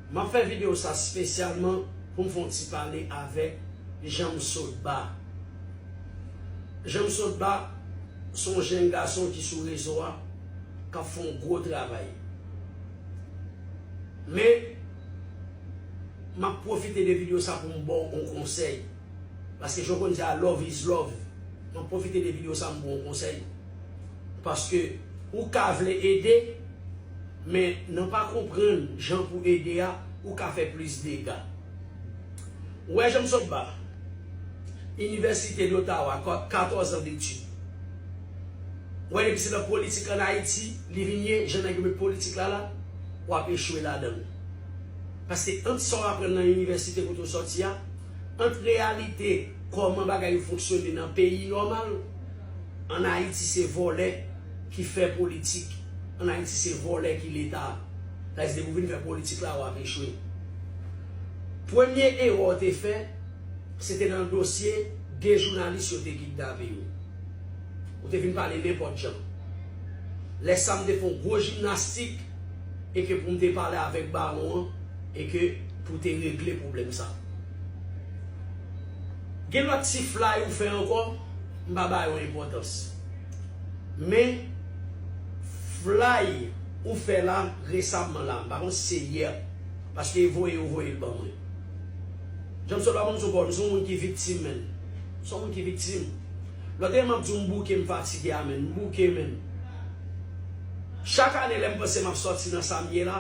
Map fè video sa spesyalman poum fon ti pale avek Janmsotba Janmsotba son jenn gason ki sou rezo a kap fon gwo travay men map pwofite de video sa poum baw on konsèy. Paske jan w konn di a love is love Mwen pwofite de video sa m ba w konsèy Paske ou ka vle ede Men nan pa konprann jan pou ede a ou ka fè plis dega Ou wè jan m sot ba Inivèsite Dotawa 14 an detid Ou wè depi se nan politik an Ayiti li vin ye jan nèg yo met politik la la w ap echwe ladan l Paske ant sa w aprann nan inivèsite kote w sòti a ant reyalite kòman bagay yo fonksyone nan peyi nòmal, an Ayiti se vòlè ki fè politik, an Ayiti se vòlè ki leta, sa se depi ou vin fè politik la wap echwe. Premye erè w te fè se te nan dosye 2 jounalis yo te kidnape yo. Ou te vin pale nenpòt jan. Lè sa m te fè yon gwo jimnastik e ke pou m te pale avèk bawon an, e ke pou te regle pwoblèm sa. Gen lòt ti flay ou fè ankò, m pa ba yo enpòtans. Men, flay ou fè la resamman la, m pa konn si se yè, paske voye yo voye l ban mwen. Jan m sot la ban m sou kò, m se yon moun ki viktim menn. M se yon moun ki viktim. Lòt ane m ap di w m bouke, m fatige a menn. M bouke menn. Chak ane lè m panse m ap sòti nan sa m ye la,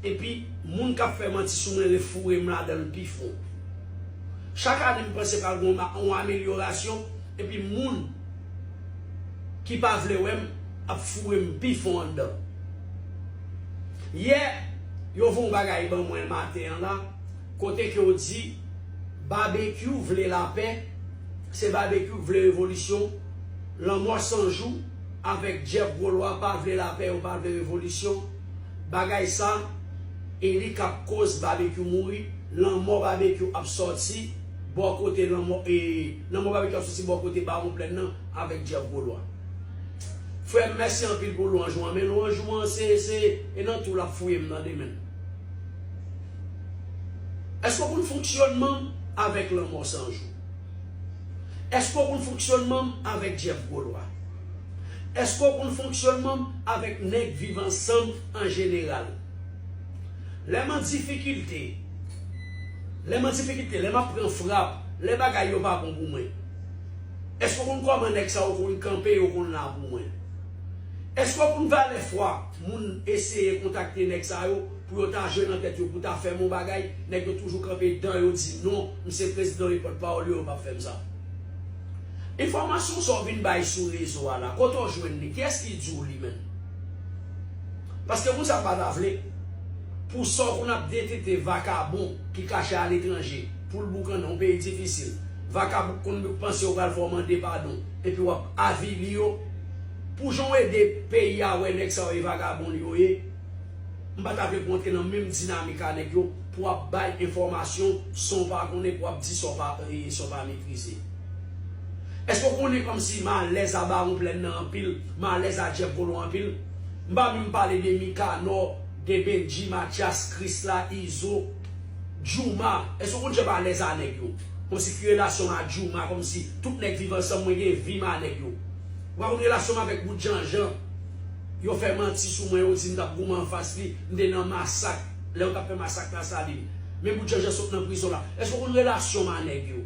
Epi, moun k ap fè manti sou mwen refoure m ladan l pi fon. Chak ane m panse pral gen yon amelyorasyon, epi moun ki pa vle wè m ap foure m pi fon anndan. Yè, yo voye yon bagay ban mwen maten an la, kote ke yo di, Babekyou vle lapè, se Babekyou ki vle revolisyon, Lanmò 100 jou avèk Jeff Gwo Lwa pa vle lapè, yo pa vle revolisyon. Bagay sa e li kap koz babekyou mouri lanmò babekyou ap sòti bò kote lanmò e lanmò babekyou ap sòti bò kote bawon plèn nan avèk jeff golwa frèm mèsi anpil pou lwanj ou an men lwanj ou an se se e nan tou lap fouyem tande menm èske ou konn fonksyònman avèk lanmò sanjou. Eske w konn fonksyonman m avèk Jeff Golois? Eske w konn fonksyonman m avèk nèg viv ansanm an jeneral? Lè m an difikilte, lè m an difikilte, lè m ap pran frap, lè bagay yo pa bon pou mwen, eske w konn kòman nèg sa yo konn kanpe, yo konn la pou mwen? Eske w konn valè fwa moun eseye kontakte nèg sa yo? Pou yo ta jwe nan tèt yo pou ta fèm yon bagay, nèg yo toujou kanpe dan yo di non, m se prezidan wi pòt pawòl yo yo pap fèm sa. Enfòmasyon sa w vin bay sou rezo a la, kote w jwenn li, kiyès ki di w li menm? Paske moun sa yo pa ta vle pou sa w konn ap detekte vakabon ki kache aletranje pou l boukannen yon peyi difisil, vakabon k konn panse yo pral fè w mande padon epi w ap avili yo pou jan w ede peyi a wè nèg sa yo e vagabon yo ye. M pata vle pou w antre nan menm dinamik a nèg yo pou w ap bay enfòmasyon san w pa konnen pou w ap di sa w pa sa w pa metrize. Èske w konnen kòmsi m alèz a Bawon Plèn nan anpil, m alèz a Jeff Volon anpil? M pa menm pale de Mikanò, de Bendji, Matyas, Krisla, Izo, Djouma. Èske w konn jan m alèz a nèg yo? Kòmsi ki relasyon m a Djouma, kòmsi tout nèg Viv Ansanm mwen gen vi m a nèg yo. Ou pa konn relasyon m avèk Wood Janjan. Yo fè manti sou mwen yo di m tap goumen anfas li, m te nan masak lè yo tap fè masak la salim men bout janjan sot nan prizon la eske ou konn relasyon m a nèg yo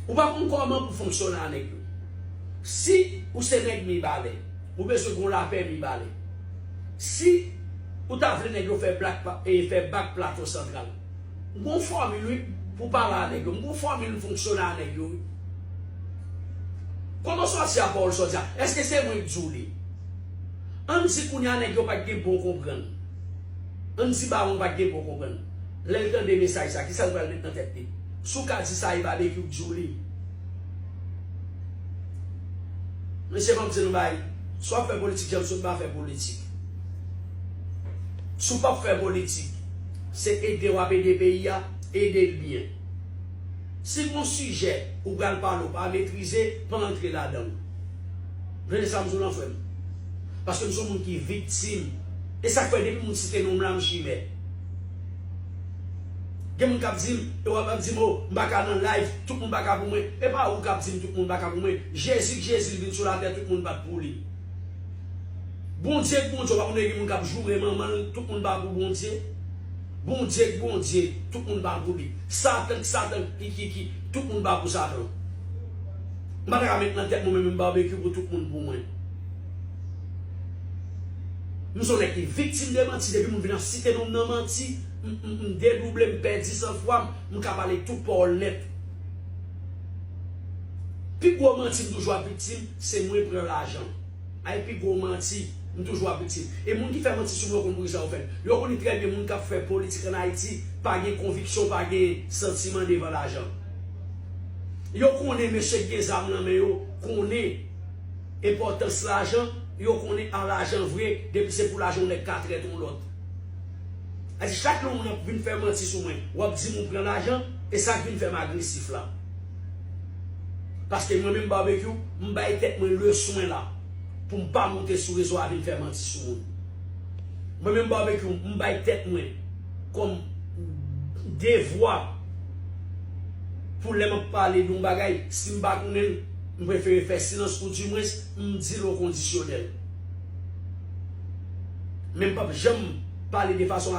ou pa konn kòman pou fonksyone a nèg yo si ou se nèg mibalè ou bezwen gon lapè mibalè si ou ta vle nèg yo fè blak fè bak plato santral. M gon fòmil wi pou pale a nèg yo. M gon fòmil m fonksyone a nèg yo wi. Koman sòti a pawòl sòti a? Eske se mwen k di w li? An n di kounye a nèg yo pa t gen bon konprann. An n di bawon pa t gen bon konprann. Lè l tande mesaj sa, kisa l pral met nan tèt li? Si w ka di sa e Babekyou k di w li. Mesye m ap di nou bagay, si w ap fè politik jan m sot m pa fè politik. Si w pap fè politik, se ede w ap ede peyi a, ede l byen. Si gon sijè ou pral pale ou pa metrize, pa antre ladan l. Tande sa m di w lan frè m. Paske m se yon moun ki viktim. E sa k fè depi moun site non m la m chimè. Gen moun k ap di m, e w ap di m o, m pa ka nan live, tout moun pa ka pou mwen. E pa ou k ap di m tout moun pa ka pou mwen. Jezi k Jezi l vin sou latè tout moun pa t pou li. Bondye k bondye w pa konn gen moun kap joure manman l tout moun pa pou bondye Bondye k bondye tout moun pa pou li satan k satan k kikiki tout moun pa pou satan m pa ta ka met nan tèt mwen menm yon barbecue pou tout moun pou mwen m son nèg ki viktim de manti depi moun vin ap site non m nan manti m dedouble m pèdi san fwa m m ka pale tout pawòl nèt. Pi gwo manti m toujou ap viktim se mwen pran lajan ay pi gwo manti m toujou ap viktim e moun ki fè manti sou mwen konn poukisa yo fèl yo konnen trè byen moun kap fè politik an ayiti pa gen konviksyon pa gen santiman devan lajan yo konnen mesye ki gen zam nan men yo konnen enpòtans lajan yo konnen a lajan vre depi se pou lajan yon nèg ka trèt yon lòt. A di chak yon moun ap vin fè manti sou mwen, wap dim ou pran lajan, e sak vin fèm agresif la. Paske mwen menm Barbecue, m bay tèt mwen le swen la pou m pa moute sou rezo a vin fè manti sou moun. Mwen menm Barbecue, m bay tèt mwen kòm devwa pou lè map pale yon bagay, si m pa konnen l, m prefere fè silans ou di mwens m di l okondisyonèl. Men m pap janm pale de fason.